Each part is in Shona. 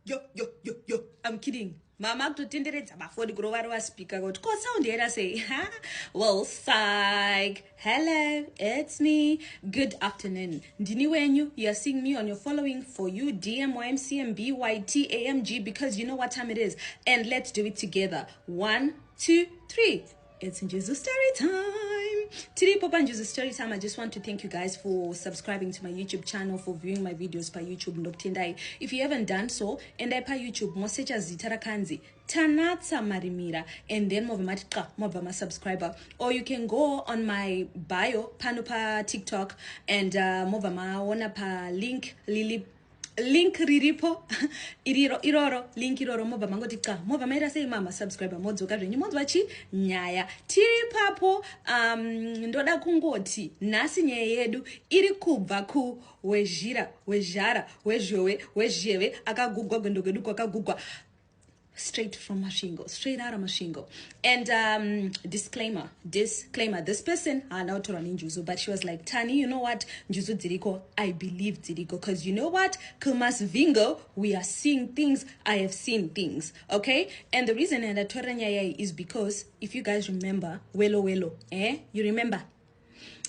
yo yo yo yo i'm kidding mama kutotenderedza mafoni kurova rova speaker kuti ko sound yaira sei ha well psych hello it's me good afternoon ndini wenyu you're seeing me on your following for you dm ymcm byt amg because you know what time it is and let's do it together one two three It's Njuzu story time. Today, Papa Njuzu story time. I just want to thank you guys for subscribing to my YouTube channel, for viewing my videos by YouTube Ndokutendai. If you haven't done so, and I pa YouTube mosecha zita rakanzi Tanatsa Marimira and then move mati qa mobva ma subscriber or you can go on my bio pano pa TikTok and uh, move maona pa link lili link riripo iriro iroro link iroro mobva mangoti ca mobva maira sei mama subscriber modzoka zvenyu monzwa chi nyaya tiri papo um, ndoda kungoti nhasi nyaya yedu iri kubva ku wezhira wezhara wezhowe wezheve akagugwa gwendo kwedu kwakagugwa straight from masvingo straight out of masvingo and um, disclaimer disclaimer this person haana kutorwa nenjuzu but she was like tani you know what njuzu dziriko i believe dziriko because you know what kumas vingo we are seeing things i have seen things okay and the reason andatorera nyaya iyi is because if you guys remember welo welo eh you remember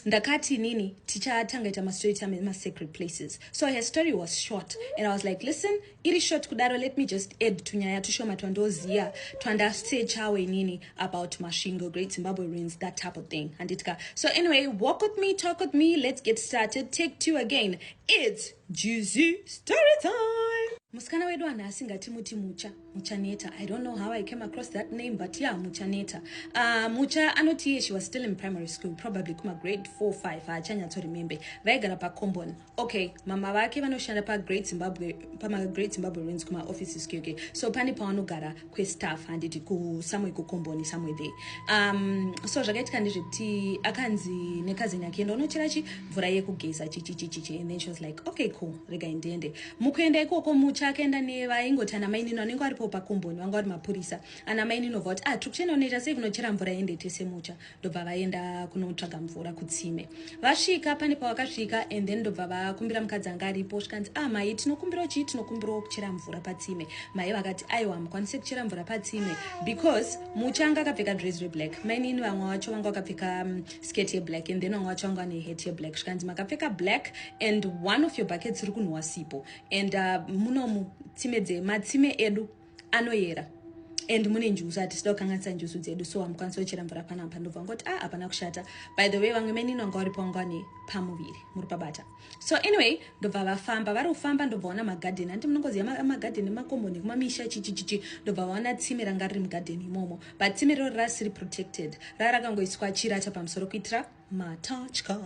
ndakati nini tichatanga ita mastory time emasecret places so her story was short and i was like listen iri short kudaro let me just add tunyaya tushoma twandoziva twandasechawo inini about masvingo great zimbabwe ruins that type of thing handitika so anyway walk with me talk with me let's get started take two again its juzy story time musikana wedu anhu asingatimuti mucha Muchaneta. I don't know how I came across that name, but yeah, Muchaneta. Uh, Mucha anoti she was still in primary school, probably kuma grade 4, 5, haachanyatso remember. Vaigara pa Combon. Okay, mama vake vanoshanda pa Great Zimbabwe, pama Great Zimbabwe Ruins kuma offices kyoke. So pani pawanogara kwe staff handiti ku somewhere ku Combon somewhere there. Um, so zvakaitika ndezvekuti akanzi nekazini yake enda unochera chi mvura yekugeza chichichichichi and then she was like, okay cool, rega ndiende. Mukuenda ikoko Mucha akaenda nevaingoti ana mainini vanenge varipo pakomboni vanga vari mapurisa. Ana mainini vobva kuti ah tiri kuchena unoita sei kunochera mvura ende tese Mucha. Ndobva vaenda kunotsvaga mvura kutsime. Vasvika pane pavakasvika and then ndobva vakumbira mukadzi anga aripo zvikanzi ah mai tinokumbirawo chii tinokumbirawo kuchera mvura patsime. Mai vakati aiwa hamukwanise kuchera mvura patsime because Mucha anga akapfeka dress reblack. Mainini vamwe vacho vanga vakapfeka mm, skirt yeblack and then vamwe vacho vanga vane hat yeblack zvikanzi makapfeka black and one of your buckets iri kunhuwa sipo and uh, munomu tsime dze matsime edu anoyera and mune njuzu hatisida kukanganisa njuzu dzedu so hamukwanisa kuchera mvura panapa ndobva ngoti a ah, hapana kushata by the way vamwe menini vanga varipo vanga vane pamuviri muri pabata So anyway ndobva vafamba vari kufamba ndobva vaona magarden hanti munongoziva magarden emakomboni ekumamisha chichichichi ndobva vaona tsime ranga riri mugarden imomo but tsime riro rasiri protected ranga rakangoiswa chirata pamusoro kuitira matatya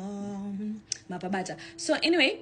mapabata so anyway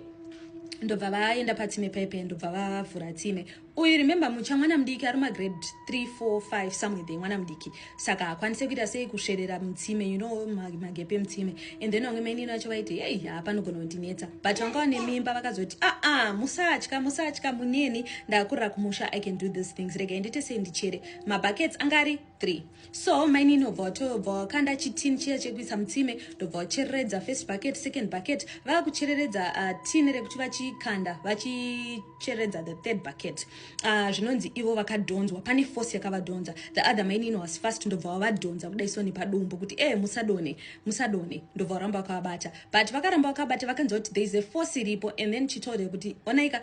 ndobva vaenda patsime paipe ndobva vavhura tsime Uyu remember mucha mwana mudiki ari magrade 3 4 5 somewhere there mwana mudiki saka hakwanise kuita sei kusverera mutsime you know magepe emutsime and then vamwe mainini vacho vaiti hei haa panogona kundinetsa but vanga vane mimba vakazoti aa ah, ah, musatya musatya muneni ndakurira kumusha i can do these things regai ndiite sei ndichere mabuckets anga ari 3 so mainini obva watobva wakanda chitini chiya chekuisa mutsime ndobva wachereredza first bucket second bucket vava kuchereredza uh, tini rekuti vachikanda vachi kucheredza the third bucket uh, zvinonzi ivo vakadhonzwa pane force yakavadhonza the other mainini was fast ndobva wavadhonza kuda isoni padumbu kuti e eh, musadone musadone ndobva varamba vakavabata but vakaramba vakabata vakanzwa kuti there is a force iripo and then chitold kuti onaika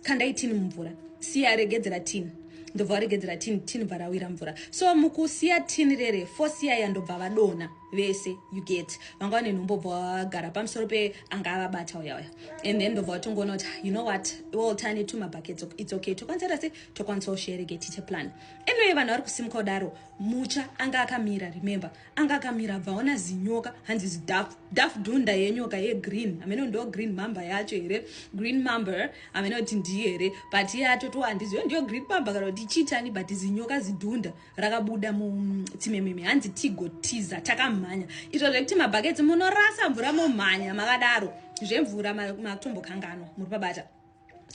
kandai tini mumvura siya regedzera tini ndobva varegedzera tini tini bva rawira mvura so mukusiya tini rere force yaya ndobva vadona vese you get vanga vane nhumbo bva vagara pamusoro pe anga avabata uya uya and then ndobva vatongoona kuti you know what all tiny two mabuckets it's okay tokwanisa tase tokwanisa ushereke tiche plan anyway vanhu vari kusimuka kudaro mucha anga akamira remember anga akamira bvaona zinyoka hanzi zidafu dafu dhunda yenyoka ye green amene ndo green mamba yacho here green mamba amene kuti ndiye here but iye atotowa ndiziyo ndiyo green mamba kana kuti chitani but zinyoka zidhunda rakabuda muchimememe hanzi tigotiza takamhanya izvo zvekuti mabhaketsi munorasa mvura momhanya makadaro zvemvura matombokanganwa muri pabata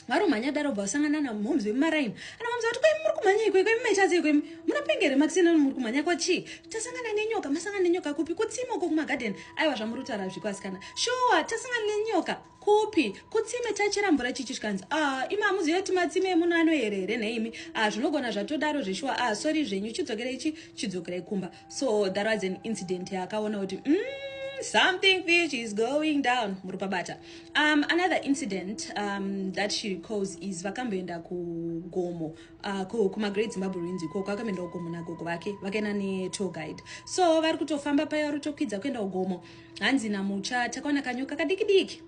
varomhanya daro bva vasangana namhoms vemumaraini anamhoms vati kwemi muri kumhanya ikweko imi maichazei kwemi munapengere makisina muri kumhanya kwachii tasangana nenyoka masangana nenyoka kupi kutsimo ko kumagadheni aiwa zvamuri kutaura zviko asikana shuwa tasangana nenyoka Kupi? Kutsime tachera mvura chichi zvikanzi ah imi hamuzive kuti matsime emuno anoyere here nheimi ah zvinogona zvatodaro zveshuwa ah sorry zvenyu chidzokerai chi chidzokerai kumba so that was an incident yaakaona kuti mm, something fish is going down murupabata um, another incident um, that she recalls is vakamboenda kugomo uh, kumagreat zimbabwe ruinzi ikoko vakamboenda kugomo nagogo vake vakaenda netour guide so vari kutofamba paya vari kutokwidza kuenda kugomo hanzi namucha takaona kanyoka kadikidiki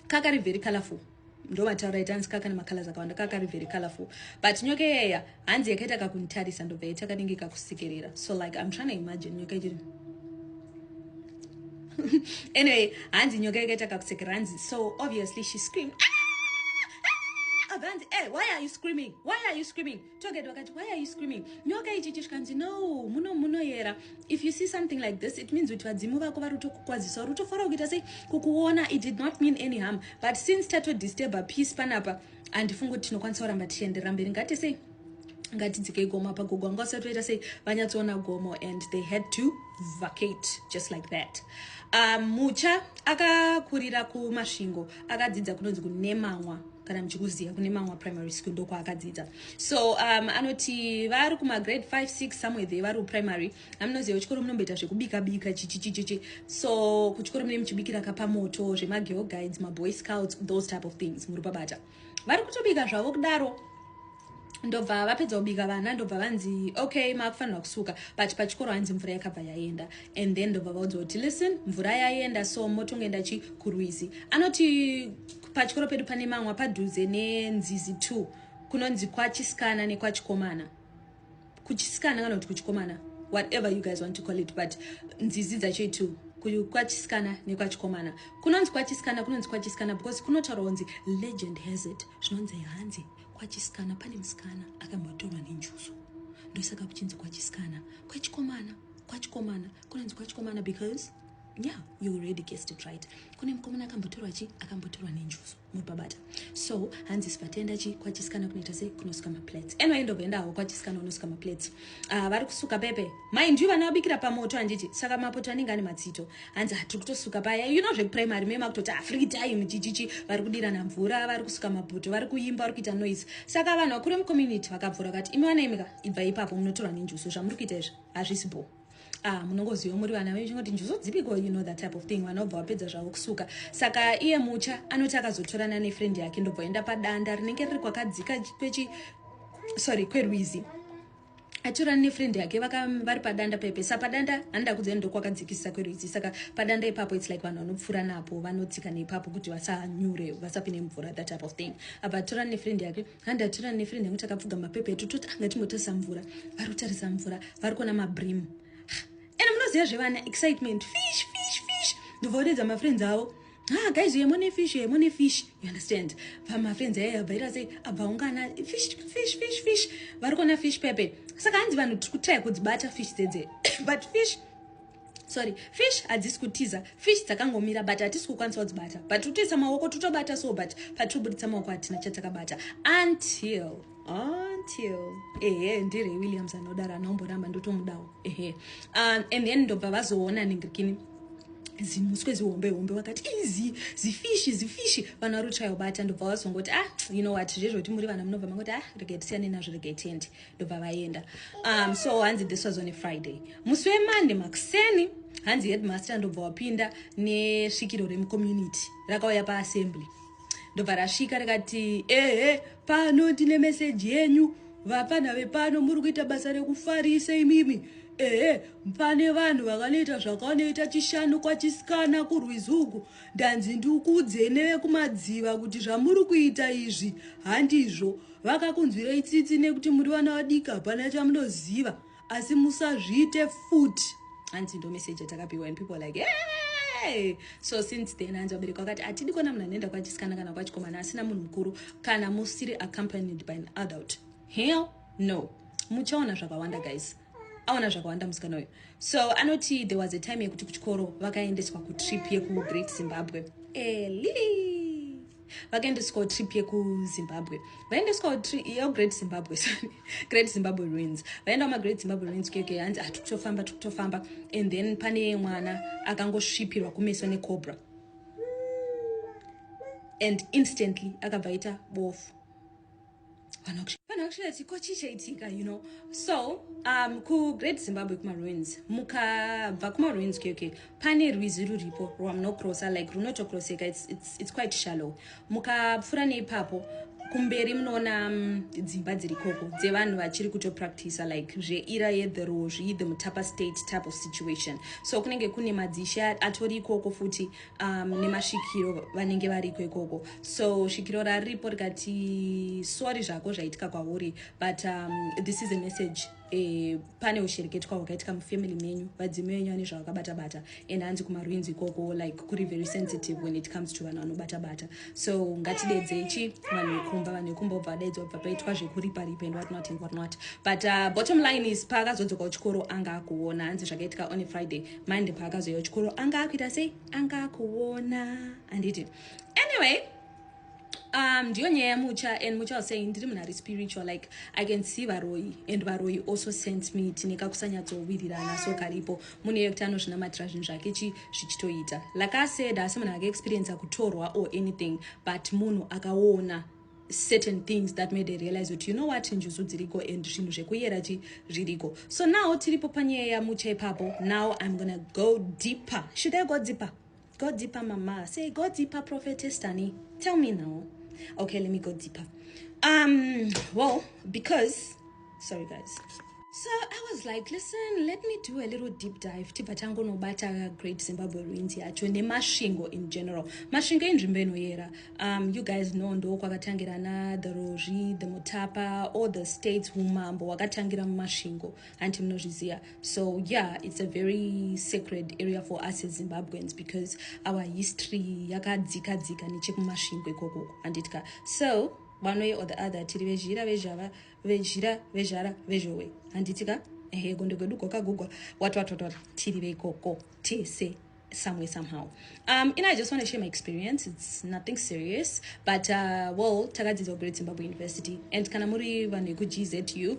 kakari very colorful ndovataura ita hanzi kakana macolors akawanda kakari very colorful but nyoka iyeya hanzi yakaita kakunitarisa ndobva yaita kanenge kakusikerera so like im trying to imagine nyoka ichiri anyway hanzi nyoka yakaita kakusekera hanzi so obviously she screamed ah! Ah! Ah! hanzi hey, eh, why are you screaming why are you screaming Toget vakati why are you screaming nyoka ichi chishkanzi no muno munoyera if you see something like this it means kuti vadzimu vako vari kutokukwazisa uri kutofara kuita sei kukuona it did not mean any harm but since tato disturber peace panapa handifungi kuti tinokwanisa kuramba tichienderera mberi ngati sei ngatidzikei gomo apa gogo anga usati toita sei vanyatsoona gomo and they had to vacate just like that um, mucha akakurira kumasvingo akadzidza kunonzi kunemanwa kana muchikuziva kune mamwa primary school ndokwaakadzidza so um, anoti vari kumagrade 5 6 somewhere there vari kuprimary amunoziva kuchikoro munomboita zvekubika bika chichichichichi so kuchikoro mune muchibikira kapamoto zvemagirl guides maboy scouts those type of things muri pabata vari kutobika zvavo kudaro ndobva vapedza kubika vana ndobva vanzi okay maakufanirwa kusuka but pachikoro hanzi mvura yakabva yaenda and then ndobva vaudza kuti listen mvura yaenda so motongoenda chi kurwizi anoti pachikoro pedu pane mamwa padhuze nenzizi two kunonzi kwachisikana nekwachikomana kuchisikana kana kuti kuchikomana whatever you guys want to call it but nzizi dzacho two kwachisikana nekwachikomana kunonzi kwachisikana kunonzi kwachisikana because kunotaurwa kunzi legend has it zvinonzi hanzi Kwachisikana pane musikana akambotorwa nenjuzu ndosaka kuchinzi kwachisikana kwechikomana kwachikomana kunonzi kwachikomana because yeah you already guessed it right kune mukomana akambotorwa chi akambotorwa nenjuzu muripabata so hanzi sivatenda chi kwachisikana kunoita sei kunosuka maplates anyway ndobva endawo kwachisikana unosuka maplates Ah, vari kusuka pepe mind you vana vabikira pamoto handiti saka mapoto anenge ane matsito hanzi hatiri kutosuka paya you know zvekuprimary mema kutoti ah, free time chichichi vari kudirana mvura vari kusuka mabhuto vari kuimba vari kuita noise saka vanhu vakuru vemcommunity vakabvura vakati imi vana imika ibva ipapo munotorwa nenjuso zvamuri kuita izvi hazvisi bho ah munongoziva muri vana venyu chingoti njuzu dzipiko you know that type of thing vana vobva vapedza zvavo kusuka saka iye mucha anoti akazotorana nefriend yake ndobva enda padanda rinenge riri kwakadzika kwechi sorry kwerwizi atorana nefriend yake vari padanda pepe sa padanda handa kudzai ndokwakadzikisisa kwerwizi saka padanda ipapo its like vanhu vanopfuura napo vanodzika neipapo kuti vasanyure vasapine mvura that type of thing abva atorana nefriend yake handi atira nefriend yangu takapfuga mapepa etu toti anga timbotarisa mvura vari kutarisa mvura vari kuona mabrim ende munoziva zvevana excitement fish fish fish ndobva odedza mafriends avo ha ah, guys yemo nefish yemo nefish you understand vamafriends aye abva ira sei abva ungana fish fish fish fish vari kuona fish pepe saka hanzi vanhu tiri kutaya kudzibata fish dzedze but fish sorry fish hadzisi kutiza fish dzakangomira but hatisi kukwanisa kudzibata but totoisa maoko totobata so but patobuditsa maoko hatina chatakabata until until ehe ndiri williams anodaro anaomboramba ndotomudawo ehe um, and then ndobva vazoona ningirikini zimuswe zihombe hombe vakati izi zifishi zifishi vana rutsvayo bata ndobva vazongoti ah you know what zvezvoti muri vana munobva mangoti ah regai tisiyane nazvo regai tiende ndobva vaenda um, so hanzi this was on a friday musi wemande makuseni hanzi headmaster ndobva wapinda nesvikiro remucommunity rakauya paassembly ndobva rasvika rikati ehe pano ndine meseji yenyu vapfanha vepano muri kuita basa rekufarisa imimi ehe pane vanhu vakanoita zvakanoita chishanu kwachisikana kurwizi uku ndanzi ndikuudzei nevekumadziva kuti zvamuri kuita izvi handizvo Vakakunzwirei tsitsi nekuti muri vana vadiki hapana chamunoziva asi musazviite futi hanzi ndo message yatakapiwa and people like hey! so since then hanzi vabereki vakati hatidi kuona munhu anoenda kwachisikana kana kwachikomana asina munhu mukuru kana musiri accompanied by an adult hell no muchaona zvakawanda guys aona zvakawanda musikana uyu so anoti there was a time yekuti kuchikoro vakaendeswa kutrip yekugreat zimbabwe eli vakaendeswawo trip yekuzimbabwe vaendeswawo yo great zimbabwe sorry great zimbabwe ruins vaenda kumagreat zimbabwe ruins keke hanzi ah tikutofamba tikutofamba and then pane mwana akangosvipirwa kumeso necobra and instantly akabva aita bofu kana kushira chiko chichaitika you know so um kugreat zimbabwe kumaruins mukabva kumaruins okay, okay pane rwizi ruripo rwamunokrosa like runotokroseka it's, it's, it's quite shallow mukapfuura neipapo kumberi munoona um, dzimba dziri koko dzevanhu vachiri kutopractisa like zveira yethe rozvi the mutapa state type of situation so kunenge kune madzishe atori ikoko futi um, nemasvikiro vanenge variko ikoko so svikiro raripo rikati sori zvako zvaitika kwauri but um, this is a message E, pane ushereketwa hwakaitika mufamily menyu vadzimi venyu vane zvavakabata bata and hanzi kumarwinzi ikoko like kuri very sensitive when it comes to vanhu vanobata bata so ngatidedzei chi vanhu vekumba vanhu vekumba obva vadaidzwa bva paitwa zvekuripa ripa and what not and what not but uh, bottom line is paakazodzoka kuchikoro anga akuona hanzi zvakaitika on a friday mandi paakazoya kuchikoro anga akuita sei anga akuona handiti anyway um ndiyo nyaya yamucha and mucha was saying ndiri munhu ari spiritual like i can see varoyi and varoyi also sent me tine kakusanyatsowirirana so karipo munhu iye kuti anozvinamatira zvinhu zvake chi zvichitoita like aseda asi munhu akaexperienca kutorwa or anything but munhu akaona certain things that made her realize kuti you know what njuzu dziriko and zvinhu zvekuyera chi zviriko so now tiripo panyaya yamucha ipapo now i'm gonna go deeper should i go deeper go deeper mama say go deeper prophetess dani tell me now okay let me go deeper um well because sorry guys so i was like listen let me do a little deep dive tibva tangonobata great zimbabwe ruins yacho nemasvingo in general masvingo inzvimbo inoyera um, you guys know ndo kwakatangira na the rozvi the mutapa all the states umambo wakatangira mumasvingo hanti munozviziva so yeah it's a very sacred area for us as zimbabweans because our history yakadzika dzika nechekumasvingo ikokoko handitya so one way or the other tiri vezhira vezhava Vejira vejara vezhowe handiti ka ehe gondo gwedu gokagugwa watwatwatwa tiri veikoko tese some way somehow um and i just want to share my experience it's nothing serious but uh, well takadzidza kugreat zimbabwe university and kana muri vanhu vekugzu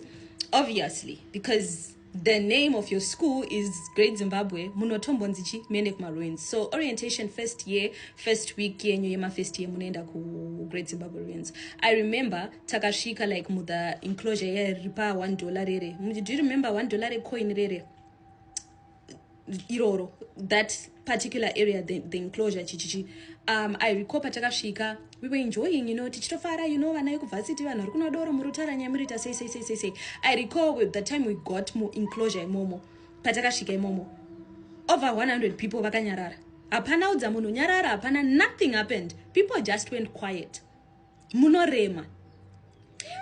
obviously because The name of your school is Great Zimbabwe munotombonzi chi muende kumaruins so orientation first year first week yenyu yemafirst year munoenda kugreat Zimbabwe ruins I remember takasvika like muthe enclosure yairipa one dollar rere do you remember one dollar recoin rere iroro that particular area the, the enclosure chichichi um, i recall patakasvika we were enjoying you know tichitofara you know vana vekuvhasiti vanhu vari kuno doro muri kutaura nyaya muriita sei sei sei sei sei i recall with the time we got mu enclosure imomo patakasvika imomo over 100 people vakanyarara hapana udza munhu nyarara hapana nothing happened people just went quiet munorema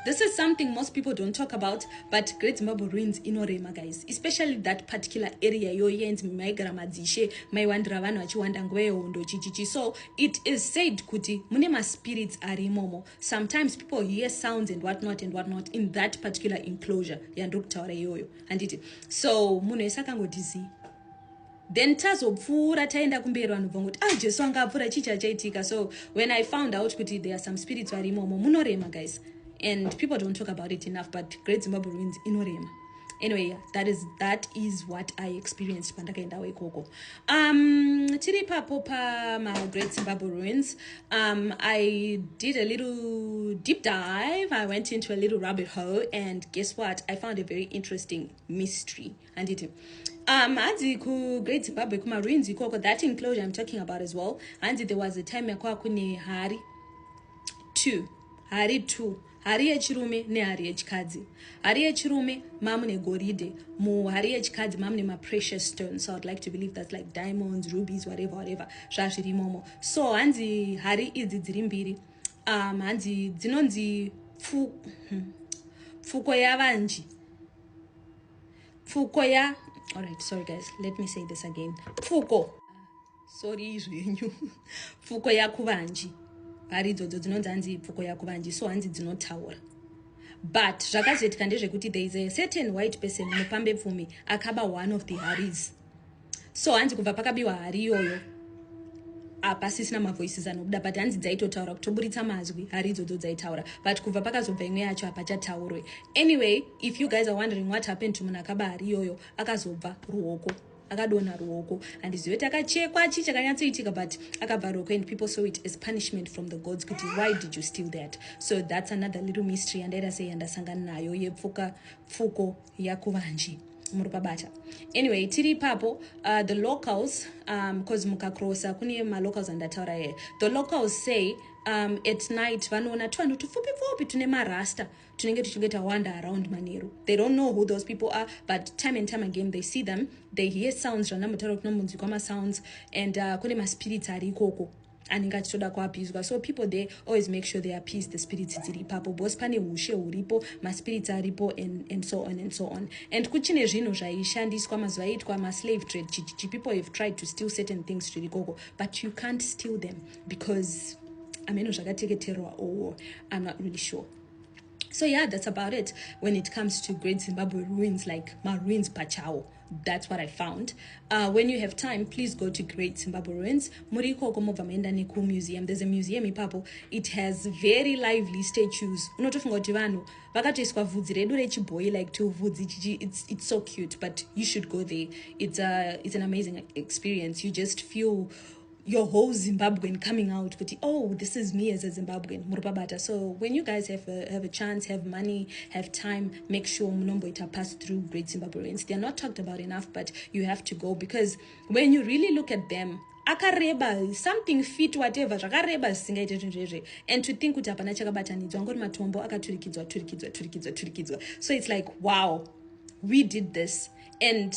this is something most people don't talk about but great zimbabwe ruins inorema guys especially that particular area yoyenzi maigara madzishe maiwandira vanhu vachiwanda nguva yehondo chichichi so it is said kuti mune maspirits ari imomo sometimes people hear sounds and what not and what not in that particular enclosure yandiri kutaura iyoyo handiti so munhu ese akangodizii then tazopfuura taenda kumberi vanhu bva ngokuti ah jesu anga apfuura chii chachaitika so when i found out kuti there are some spirits vari imomo munorema guys and people don't talk about it enough but great zimbabwe ruins inorema anyway that is, that is what i experienced pandakaendawo ikoko um, tiri papo pamagreat zimbabwe ruins um, i did a little deep dive i went into a little rabbit hole and guess what i found a very interesting mystery handiti um hanzi kugreat zimbabwe kumaruins ikoko that enclosure im talking about as well hanzi there was a time yakwava kune hari two hari two hari yechirume nehari yechikadzi hari yechirume mamu negoridhe muhari yechikadzi mamu nemaprecious stones so iwould like to believe thats like diamonds rubies whatever whatever zvazviri imomo so hanzi hari idzi dziri mbiri um hanzi dzinonzi pfu, hmm, pfuko yavanji pfuko ya alright sorry guys let me say this again pfuko sorry zvenyu pfuko yakuvanji hari idzodzo dzinonzi hanzi pfuko yakuvanji so hanzi dzinotaura but zvakazoitika ndezvekuti there is a certain white person mupambe pfumi akaba one of the haris so hanzi kubva pakabiwa hari iyoyo hapasisina mavoices anobuda but hanzi dzaitotaura kutoburitsa mazwi hari idzodzo dzaitaura but kubva pakazobva imwe yacho hapachataurwe anyway if you guys are wondering what happened to munhu akaba hari iyoyo akazobva ruoko akadonha ruoko handizive kuti akachekwa chii chakanyatsoitika but akabva ruoko and people saw it as punishment from the gods kuti why did you steal that so that's another little mystery yandaita sei yandasangana nayo yepfuka pfuko yakuvanji muri pabata anyway tiri ipapo uh, the locals because um, mukacrossa kune malocals andataura here the locals say um, at night vanoona tuvanhu tupfupi pfupi tune marasta tunenge tuchinge tawanda around manheru they don't know who those people are but time and time again they see them they hear sounds zvandamutaura kuti nomunzwi kwamasounds and uh, kune maspirits ari ikoko anenge achitoda kuapizwa so people there always make sure they appease the spirits dziri ipapo bcause pane ushe huripo maspirits aripo and, and so on and so on and kuchine zvinhu zvaishandiswa mazuva aiitwa maslave trade chichichi people have tried to steal certain things zviri koko but you can't steal them because ameno zvakateketerwa owo i'm not really sure so yeah that's about it when it comes to great zimbabwe ruins like maruins pachawo That's what I found. Uh, when you have time, please go to Great Zimbabwe Ruins. Muri ikoko mobva maenda neku museum. There's a museum ipapo. It has very lively statues. Unotofunga kuti vanhu vakatoiswa vhudzi redu rechibhoyi like to vhudzi chichi. It's, it's so cute, but you should go there. It's, a, uh, it's an amazing experience. You just feel your whole Zimbabwean coming out kuti oh this is me as a Zimbabwean muripabata so when you guys have a, have a chance have money have time make sure munomboita pass through great Zimbabweans they're not talked about enough but you have to go because when you really look at them akareba something fit whatever zvakareba zvisingaite zvinhu zvezve and to think kuti hapana chakabatanidzwa angori matombo akaturikidzwa turikidzwa turikidzwa turikidzwa so it's like wow we did this and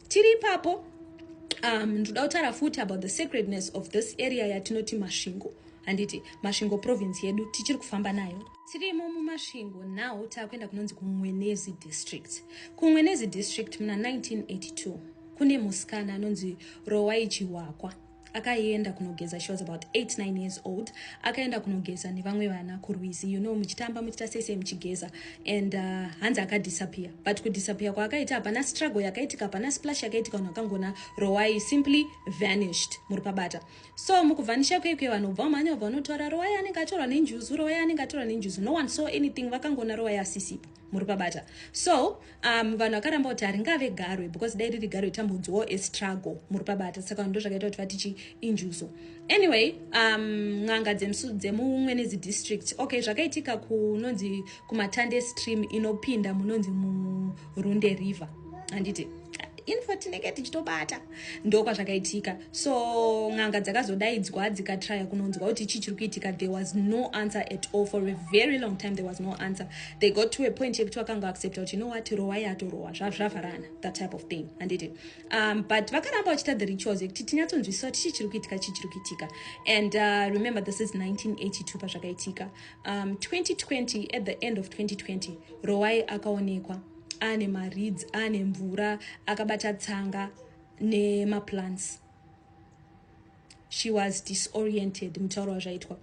tiri ipapo um, ndoda kutaura futi about the sacredness of this area yatinoti masvingo handiti masvingo province yedu tichiri kufamba nayo tirimo mumasvingo now taakuenda kunonzi kumwenezi district kumwenezi district muna 1982 kune musikana anonzi rowai chihwakwa akaenda kunogeza she was about 89 years old akaenda kunogeza nevamwe vana kurwizi you know muchitamba muchita sese muchigeza and uh, hanzi akadisappear but kudisappear kwaakaita hapana struggle yakaitika hapana splash yakaitika vanhu vakangona rowai simply vanished muri pabata so mukuvanisha kwekwe vanhu bva mhanya vanotora rowai anenge atorwa nenjuzu rowai anenge atorwa nenjuzu no one saw anything vakangona rowai asisipo muri pabata so um, vanhu vakaramba kuti haringave garwe because dai riri garwe tambudzwawo estruggle muri pabata saka ndo zvakaita kuti vatichi injuso anyway um, n'anga dzemumwe nezi district okay zvakaitika kunonzi kumatande stream inopinda munonzi murunde river handiti info tinenge tichitobata ndokwazvakaitika so n'anga dzakazodaidzwa dzikatraya kunonzwa kuti chii chiri kuitika there was no answer at all for a very long time there was no answer they got to a point yekuti vakanga accepta kuti know what rowa yatorowa zvavharana that type of thing handiti um, but vakaramba vachiita the rituals yekuti tinyatsonzwisisa kuti chii chiri kuitika chii chiri kuitika and uh, remember this is 1982 pazvakaitika um, 2020 at the end of 2020 rowai akaonekwa aane mareads aane mvura akabata tsanga nemaplants she was disoriented mutauro wazvaitwa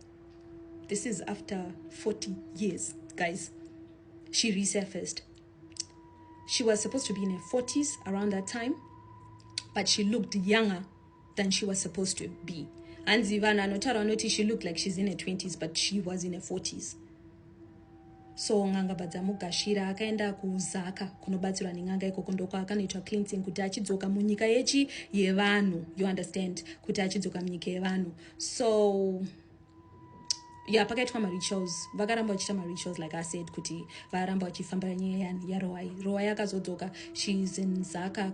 this is after 40 years guys she resurfaced she was supposed to be in her 40s around that time but she looked younger than she was supposed to be hanzi vanhu anotaura vanoti she looked like she's in her 20s but she was in her 40s so n'anga badzamugashira akaenda kuzaka kunobatsirwa nen'anga ikoko ndokwakanoitwa cleansing kuti achidzoka munyika yechi yevanhu you understand kuti achidzoka munyika yevanhu so ya pakaitwa marituals vakaramba vachiita marituals like asaid kuti varamba vachifambira nyaya yarowai rowai akazodzoka shes in zaka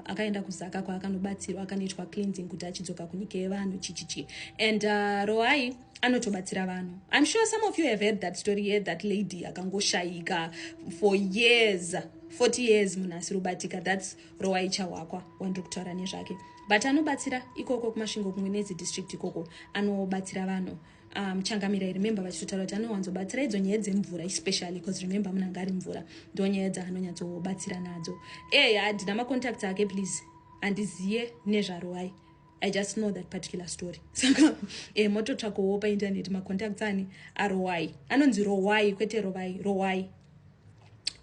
akaenda kuzaka kwaakanobatsirwa akanoitwa cleansing kuti achidzoka kunyika yevanhu chichichi and uh, rowai anotobatsira vanhu im sure some of you have heard that story here that lady akangoshayika for years 40 years munhu asirubatika thats Rowai Chahwakwa wandiri kutaura nezvake but anobatsira ikoko kuMasvingo kumwe nedzi district ikoko anobatsira vanhu um, changamira i remember vachitotaura kuti anowanzobatsira idzo nyaya dzemvura especially because remember munhu anga ari mvura ndo nyaya dzaanonyatsobatsira nadzo ey handina macontacts ake please handiziye nezvaroai i just know that particular story saka e mototsvakowo painternet macontacts ani aroai anonzi roai kwete rovai roai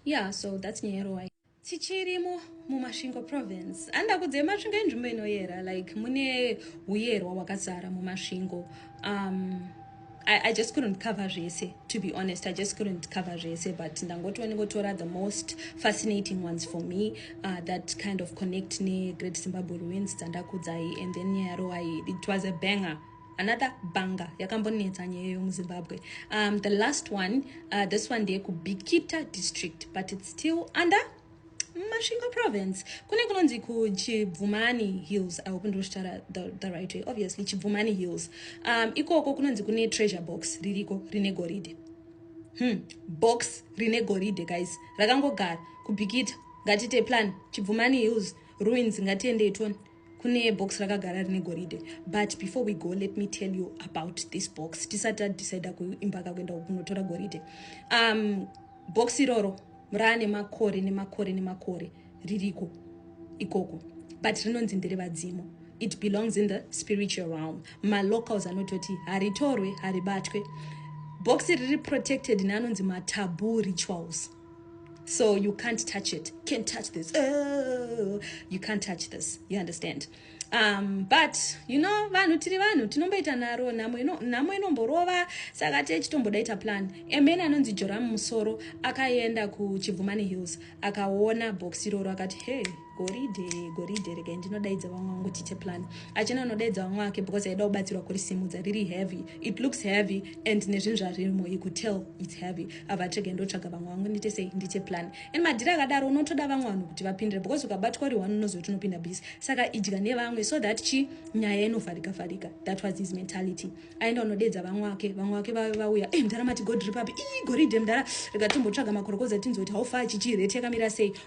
yeah so that's nyaya yeroai Tichirimo muMasvingo province. Handa kudze Masvingo inzvimbo inoyera like mune huyerwa wakazara muMasvingo. Um, I, I just couldn't cover zvese to be honest i just couldn't cover zvese but ndangoti wanengotora the most fascinating ones for me uh, that kind of connect negreat zimbabwe ruins dzandakudzai and then nyaya yaroai it was a banger another banga yakambonetsa nyaya iyo muzimbabwe um, the last one uh, this one ndeyekubikita district but its still under masvingo province kune kunonzi kuchibvumani hills i hope ndinoshitara the, the right way obviously chibvumani hills um, ikoko kunonzi kune treasure box ririko rine goridhe hmm. box rine goridhe guys rakangogara kubikita ngatite plan chibvumani hills ruins ngatiendei tone kune box rakagara rine goridhe but before we go let me tell you about this box tisati tadecide kuimbaka kuenda kunotora goridhe um, box iroro raane makore nemakore nemakore ririko ikoko but rinonzi ndere vadzimu it belongs in the spiritual realm malocals anototi haritorwe haribatwe box riri protected neanonzi matabu rituals so you can't touch it can't touch this oh, you can't touch this you understand um, but you know vanhu tiri vanhu tinomboita naro nhamo inomborova saka tee chitombodaita plan amen anonzi joram musoro akaenda kuchibvumani hills akaona box iroro akati hey goridhe goridhe regai ndinodaidza vamwe vangu tiche plan achina anodaidza vamwe vake because aida kubatsirwa kurisimudza riri heavy it looks heavy and nezvinhu zvaririmo you could tell its heavy ava tega ndotsvaga vamwe vangu ndite sei ndiche plan and madhiri akadaro unotoda vamwe vanhu kuti vapindire because ukabatwa uri one unoziva kuti unopinda busy saka idya nevamwe so that chi nyaya inofarika farika that was his mentality aenda unodeedza vamwe vake vamwe vake vave vauya e eh, mdhara mati god ripapi ii goridhe mdhara rega tombotsvaga makorokoza tinzoti haufa chichireteka mira sei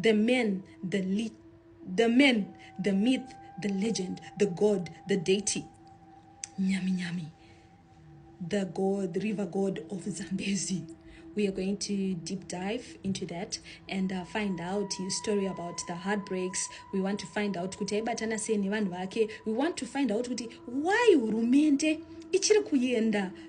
the man the le the man the myth the legend the god the deity nyami nyami the god river god of zambezi we are going to deep dive into that and uh, find out his story about the heartbreaks we want to find out kuti aibatana sei nevanhu vake we want to find out kuti why hurumende ichiri kuenda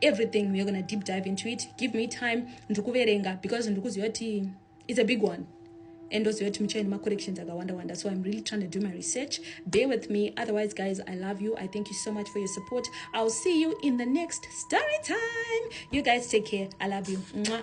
everything we're gonna deep dive into it give me time ndiri kuverenga because ndiri kuziva kuti it's a big one and also to muchaini macorrections akawanda wanda so i'm really trying to do my research bear with me otherwise guys i love you i thank you so much for your support i'll see you in the next story time you guys take care i love you Mwah.